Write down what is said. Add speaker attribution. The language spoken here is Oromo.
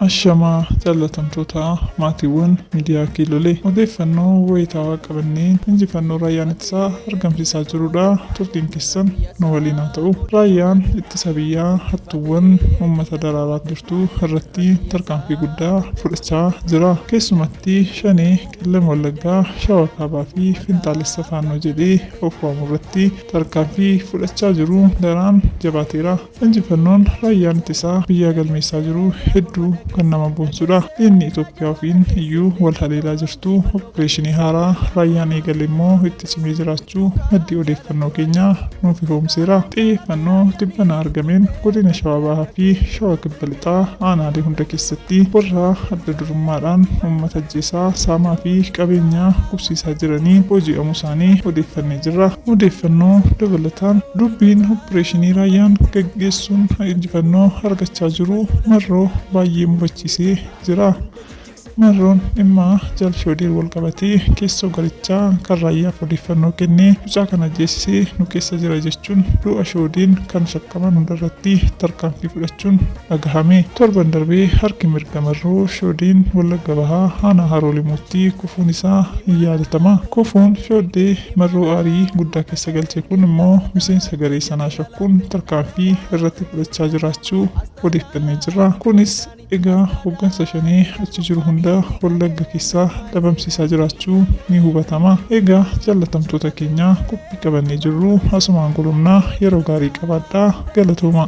Speaker 1: Ashamaa jaallatamtoota maatiiwwan miidiyaa Kiilolee odeeffannoo wayitaawaa qabannee injifannoo raayyaan ittisaa argamsiisaa jirudha. Turtiin keessan nu waliin haa ta'u. Raayyaan ittisa biyyaa hattuuwwan uummata daraaraa jirtu irratti tarkaanfii guddaa fudhachaa jira. Keessumatti shanee Qellem Wallaggaa, Shawaa Kaabaa fi Finxaalessa Faannoo jedhee of waamu irratti tarkaanfii fudhachaa jiru daraan jabaateera. Injifannoon raayyaan ittisaa biyyaa galmeessaa jiru hedduu kan nama boonsudha. Diinni Itoophiyaa ofiin iyyuu wal haleelaa jirtu oppireeshinii haaraa raayyaan eegale immoo itti Cimee jiraachuu maddi odeeffannoo keenyaa nuuf ifoomseera. Xiyyeeffannoo tibbana argameen godina Shawaa Bahaa fi Shawaa Kibba Lixaa aanaalee hunda keessatti warra adda durummaadhaan uummata ajjeesaa, saamaa fi qabeenya gubsiisaa jiranii booji'amuu isaanii odeeffannee jirra. Odeeffannoo dabalataan dubbiin oppireeshinii raayyaan gaggeessuun injifannoo argachaa jiru Marroo baay'ee mufachiisee jira. Marroon dhimma Jaal Shoodee walqabatee keessoo garichaa kan Raayyaaf odeeffannoo kennee mucaa kana ajjeesisee nu keessa jira jechuun du'a Shoodeen kan shakkaman hundarratti tarkaanfii fudhachuun dhagahame. Torban darbe harki mirga Marroo Shoodeen Wallagga Bahaa aanaa Haroo Limuutti kufuun isaa ni yaadatama. Kufuun Shooddee Marroo aarii guddaa keessa galche kun immoo miseensa garee sanaa shakkuun tarkaanfii irratti fudhachaa jiraachuu odeeffannee jirra. Kunis. Egaa hoggansa shanee achi jiru hunda Wallagga keessaa dhabamsiisaa jiraachuu ni hubatama. Egaa jaallatamtoota keenya qophii qabannee jirru asumaan golomnaa yeroo gaarii qabaadhaa galatoomaa.